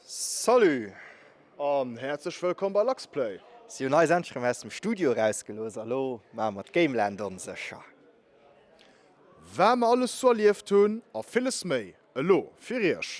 Salut an häerzlech wëllkomm bei LuxPlay! Si hunn eis endlech erëm aus dem Studio erausgelooss a lo maache mer d'Gameland onsécher. Wat mer alles sou erlieft hunn a villes méi elo fir iech!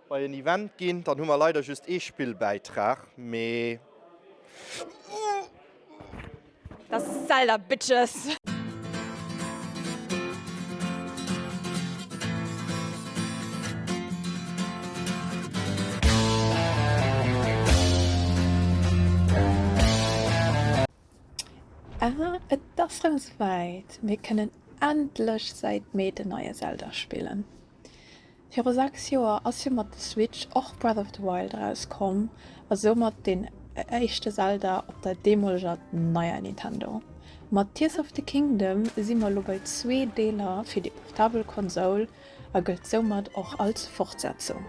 Bei en Event ginn, dann hu mer leider just ee Spillbäitrag, mee. Ah et ass rem souwäit, mir kënnen endlech säit Mee den neie Zelda spillen! Viru 6 Joer ass jo mat der Switch och Breath of the Wild erauskomm a soumat deen éischte Zelda op der deemoleger neier Nintendo. Mat Tears of the Kingdom si mer elo bei zwee Deeler fir déi portabel Konsoul a gëllt soumat och als Fortsetzung.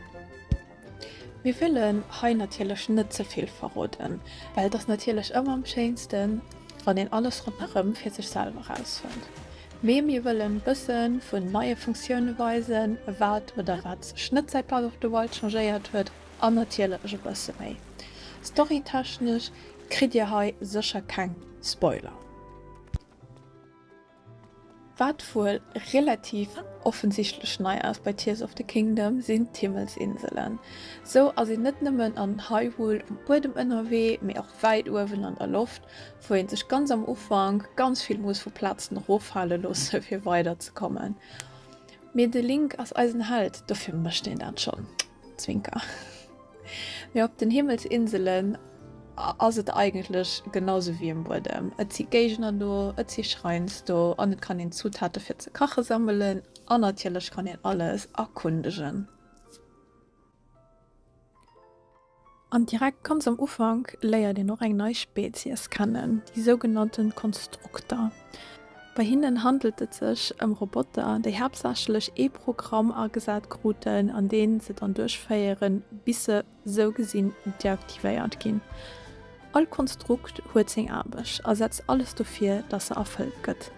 Mir wëllen hei natierlech net ze vill verroden, well et ass natierlech ëmmer am schéinsten, wann een alles ronderëm fir sech selwer rausfënnt. Mee mir wëllen bëssen vun neie Funktiounen weisen, wat oder wat sech net säit Breath of the Wild changéiert huet an natierlech e bësse méi. Storytechnesch kritt dir hei sécher keng Spoiler, wat wuel relativ offensichtlech nei ass bei Tears of the Kingdom sinn d'Himmelsinselen. Sou ass een net nëmmen an Hyrule um Buedem ënnerwee, mee och wäit uewen an der Loft, wou een sech ganz am Ufank ganz vill muss vu Platzen eroffale loosse fir weider ze kommen, mee de Link ass eisen Held, dofir mécht een dat schonn, Zwinker. Mee op den Himmelsinselen ass et eigentlech genau sou wéi um Buedem, et si Géigner do, et si Shrines do an et kann een Zutate fir ze kache sammelen an natierlech kann een alles erkundegen. An direkt ganz am Ufank léiert een och eng nei Spezies kennen, déi sougenannte Konstrukter. Bei hinnen handelt et sech ëm Roboter, déi haaptsächlech ee Programm agesat kruten, an dee se dann duerchféieren, bis se sou gesinn deaktivéiert ginn. All Konstrukt huet seng Aarbecht a setzt alles dofir, datt se erfëllt gëtt.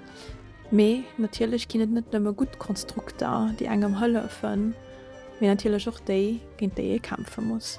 Mee natierlech ginn et net nëmme gutt Konstrukter, déi engem hëllefen, mee natierlech och déi, géint déi ee kämpfe muss.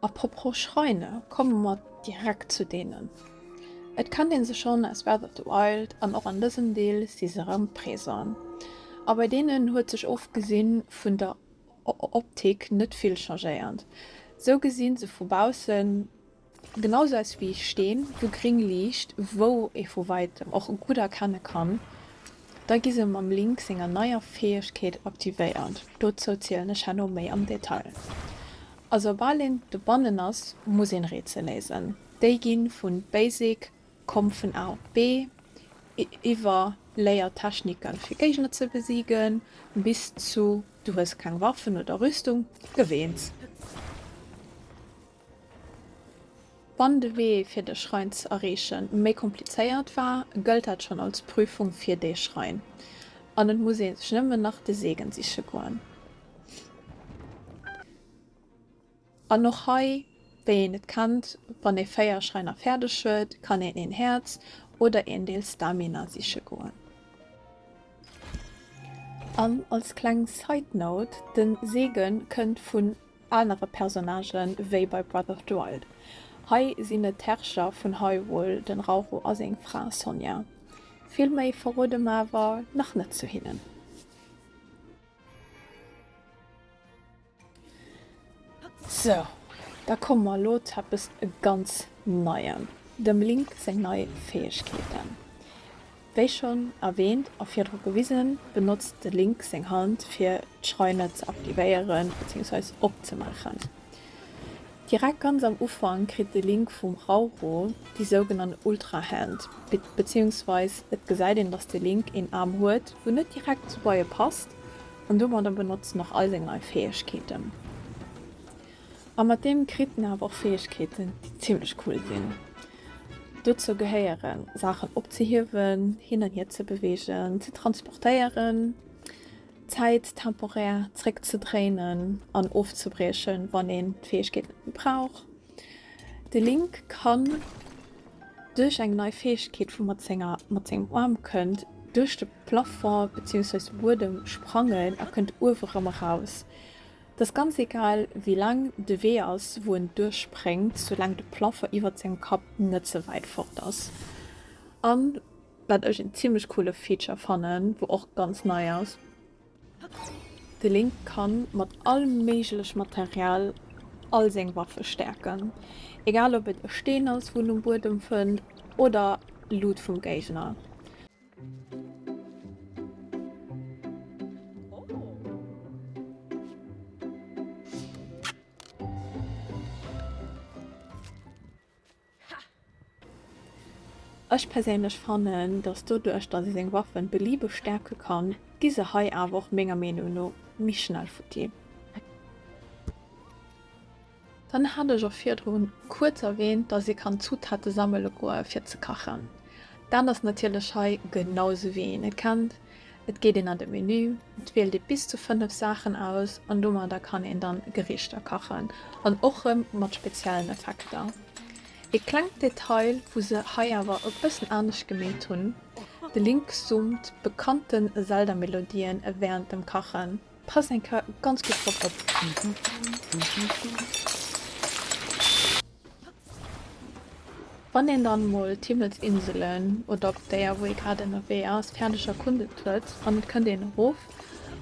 A propos Schräine komme mer direkt zu deenen. Et kennt ee se schonn aus Breath of the Wild an och an dësem Deel si se erëm présent. A bei deenen huet sech ofgesi vun der Optik net vill changéiert. Sou gesi se vu baussen. Genau sou aus wéi Steen, wou gring liicht, wou ee vu wäitem och gutt erkenne kann. Da gi se mam Link senger neier Fäegkeet aktivéiert. Dozou zielen ech herno méi am Detail. A soubal een dobannen ass, muss een Rätsel léisen. Déi gi vun Basic, Komm vun A op B, iwwer Léier Techniken fir Géigner ze besiegen, bis zu Du hues keng Waffen oder Rüstung, gewéins. Wann de Wee fir de Schrein ze erreeche méi komplizéiert war, gëllt dat schonn als Prüfung fir dee Schrein an et muss ee sech nëmmen nach de Seegen siche goen. An och hei, wéi een et kennt, wann ee 4 Schräiner fäerdeg huet, kann een een Häerz oder een Deel Stamina siche goen. An als kleng Side Note, de Seegen kënnt vun anere Personnagë wéi bei Breath of the Wild. Hei sinn et d'Herrscher vun Hyrule, den Rauro a seng Fra Sonia. Vill méi verrode mer awer nach net zu hinnen. Sou, da komme mer elo zu eppes ganz Neiem, dem Link seng nei Fäegkeeten. Wéi schonn erwähnt a virdru gewisen, benotzt de Link seng Hand fir d'Schreiner ze aktivéieren bzw. opzemaachen. Direkt ganz am Ufank kritt de Link vum Rauro déi sougenannt Ultrahand, bzw. et gesäit een dass de Link een Aarm huet wou net direkt zu Beie passt an domadder benotzt en och all seng nei Fäegkeeten. A mat deem kritt en awer och Fäegkeeten déi zimmlech cool sinn. Dozou gehéieren, Saachen opzehiewen, hin an hier ze beweegen, ze transportéieren, Zäit temporär zréckzedréinen an ofzebriechen, wann een d'Fäegkeet net méi brauch. De Link kann duerch eng nei Fäegkeet vu mat senger mat sengem Aarm kënnt duerch de Plafond beziwungsweis de Buedem sprangen a kënnt uewe rëm eraus. 't ass ganz egal wéi laang de Wee ass wou en duerchspréngt, soulaang de Plaffer iwwert sengem Kapp net ze wäit fort ass. An wat ech een zimmlech coole Feature fannen, wou och ganz nei ass, de Link kann mat all méiglech Material all seng Waffe stäerken, egal ob et e Steen ass wou en um Buedem fënnt oder Loot vum Géigner. Ech perséinlech fannen dass doduerch dass ee seng Waffen beliebeg stärken kann, gi se hei awer och menger Meenung no méi schnell futti. Dann hat ech och virdrun kuerz erwähnt, dass ee kann Zutaten sammele goe fir ze kachen. Dat ass natierlech hei genau sou wéi een et kennt. Et geet een an de Menü, et wielt ee bis zu 5 Saachen aus an domadder kann een dann Gerichter kachen an och rem mat speziellen Effekter. Ee klengt Detail wou se hei awer e bëssen anescht gemeet hunn, de Link zummt bekannten Zelda-Melodien während dem Kachen. Pass eng Kar ganz gudd drop op. Wann een dann mol d'Himmelsinselen oder op déer wou ee grad ënnerwee ass färdeg erkundet huet an et kënnt een erof,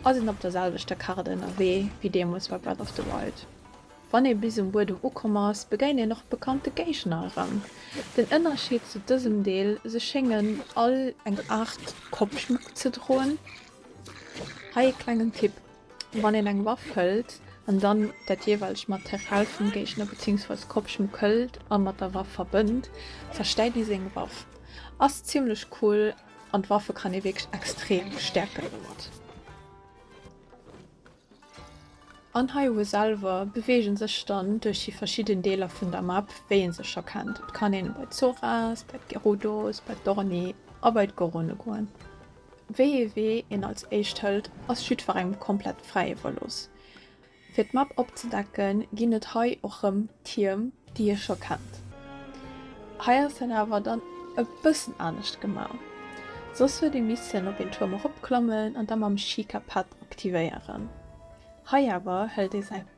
ass een op der selwechter Kart ënnerwee wéi deemols bei Breath of the Wild. Wann ee bis um Buedem ukomm ass begéint een och bekannte Géigner erëm. Den Ënnerscheed zu dësem Deel, se schéngen all eng Art Koppschmuck ze droen. Hei ee klengen Tipp, Wann een eng Waff hëlt an dann dat jeeweilegt Material vum Géigner beziehungsweise Kopfschmuck hëlt a mat der Waff verbënnt, zerstäit déi seng Waff. Ass zimmlech cool an d'Waffe kann ee wierklech extrem stäerken domat. An hei uewe selwer beweegt ee sech dann duerch déi verschidden Deeler vun der Map, wéi ee se scho kennt. Et kann een bei d'Zoras, bei d'Gerudos, bei d'Orni a bei d'Gorone goen. Wéi ee Wee een als éischt hëlt, ass jiddwerengem komplett fräi iwwerlooss. Fir d'Map opzedecken, ginn et hei och rëm Tierm, déi ee scho kennt. Hei ass dat awer dann e bëssen anescht gemaach, soss huet ee missen op een Tuerm eropklammen an da mam Shika-Pad aktivéieren. Hei awer hëlt ee säi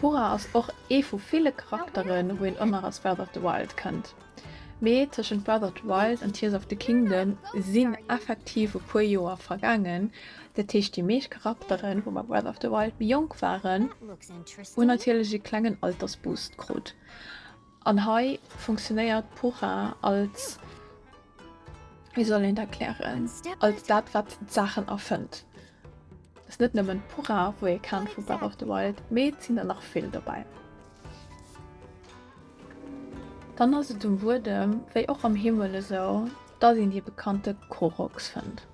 Pura ass och ee vu ville Charakteren, wou een ëmmer aus Breath of the Wild kënnt. Mee tëschent Breath of the Wild an Tears of the Kingdom sinn effektiv e puer Joer vergaangen, dat heescht déi meescht Charakteren, wou bei Breath of the Wild méi jonk waren, hunn natierlech e klengen Altersboost krut. An hei funktionéiert Pura als, wéi soll een et erklären, als dat wat d'Saachen erfënnt. Et ass net nëmmen Pura wou ee kennt vu Breath of the Wild, mee et sinn der nach vill dobäi. Dann ass et um Buedem wéi och am Himmel esou, dass een dee bekannte Koroks fënnt.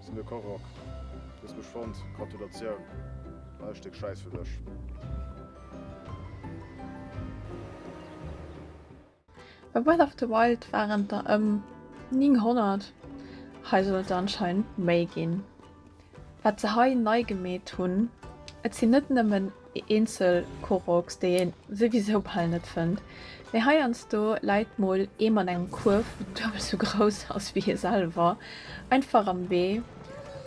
Sinn de Karoq. Hues mech fonnt. Gratulatioun. Hei e Stéck Schäiss fir dech. Bei Breath of the Wild waren et der ëm 900, hei soll et der anscheinend méi ginn. Wat se hei nei gemeet hunn, et sinn net nëmmen eenzel Koroks, déi een souwisou bal net fënnt, mee heiansdo läit mol ee mat engem Kuerf, deen duebel esou grouss ass wéi hie selwer, einfach am Wee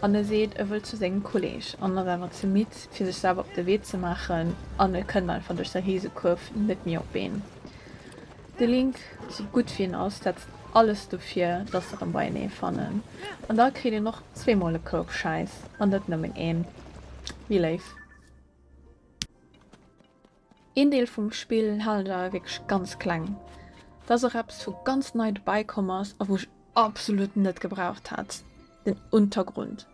an e seet, e wëll zu sengem Kolleg an ass awer ze midd, fir sech selwer op de Wee ze maachen an e kënnt einfach duerch säi Risekuerf net méi op een. De Link, sou gutt wéi en ass, setzt alles dofir, dass der en beienee fannen. An da kritt een och zweemol e Koup Schäiss an net nëmmen een. Wie léif. Een Deel vum Spill haalt awer wierklech ganz kleng. Dat ass och eppes wou ganz nei dobäi komm ass a wou ech absolut net gebraucht hat, den Untergrund.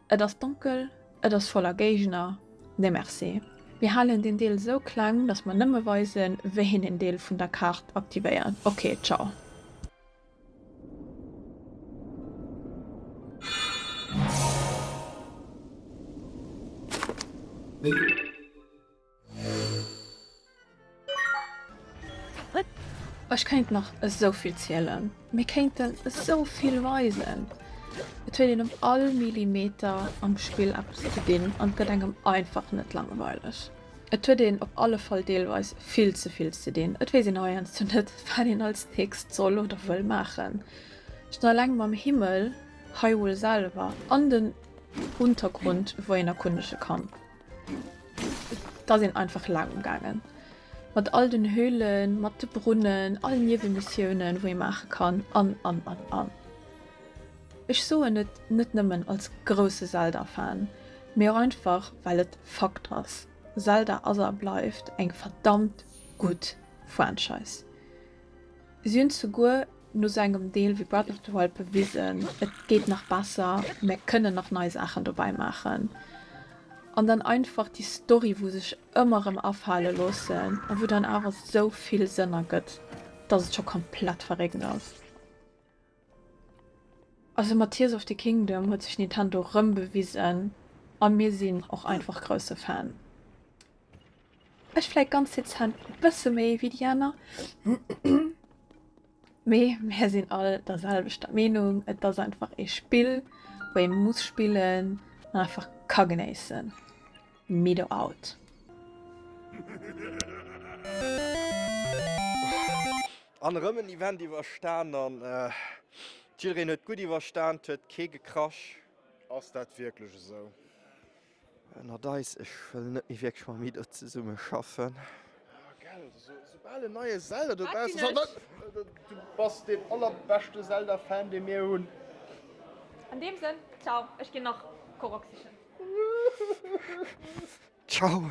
Et ass donkel, et ass voller Géigner, nee merci. Mir halen den Deel esou kleng, dass mer nëmme weisen wéi een en Deel vun der Kaart aktivéiert. Ok, ciao. Ech kéint nach esou vill zielen, mir kéinten esou vill weisen. Et huet een op all Millimeter am Spill eppes ze dinn an et gëtt engem einfach net langweileg. Et huet een op alle Fall deelweis vill ze vill ze dinn. Et weess een heiansdo net, wat een als nächst soll oder wëll maachen. Schonn eleng mam Himmel, Hyrule selwer an den Untergrund, wou een erkundege kann. Et ass een einfach laang umgaangen. Mat all den Höhlen, mat de Brunnen, all Niewemissioune wou ee maache kann an an an an. Ech soen et net nëmmen als grousse Zelda-Fan, mee och einfach well et Fakt ass, Zelda ass a bleift eng verdammt gutt Franchise. Si hunn souguer no sou engem Deel wéi Breath of the Wild bewisen, et geet nach besser, mär kënnen nach nei Saachen dobäi maachen. An dann einfach déi Story wou sech ëmmer rëm afale loossen a wou dann awer sou vill Sënn ergëtt, dass et scho komplett verréckt ass. Also mat Tears of the Kingdom huet sech Nintendo rëm bewisen a mir sinn och einfach grousse Fan. Ech fläit ganz dezent e bësse méi wéi déi aner. Mee mär sinn all der selwechter Meenung, et ass einfach ee Spill wou ee muss spillen an einfach ka genéissen. Mido out. An erëm en Event iwwerstan an jiddereen huet gutt iwwerstan, et huet kee gekrasch. Ass dat wierklech esou? Ënnert eis, ech wëll net méi wierklech mam Ido zesumme schaffen. Jo gell, also esoubal en neie Zelda dobaussen ass, an du bass deen allerbeschte Zelda Fan dee mir hunn. An deem Sënn, ciao, ech ginn nach Korok sichen. Ciao.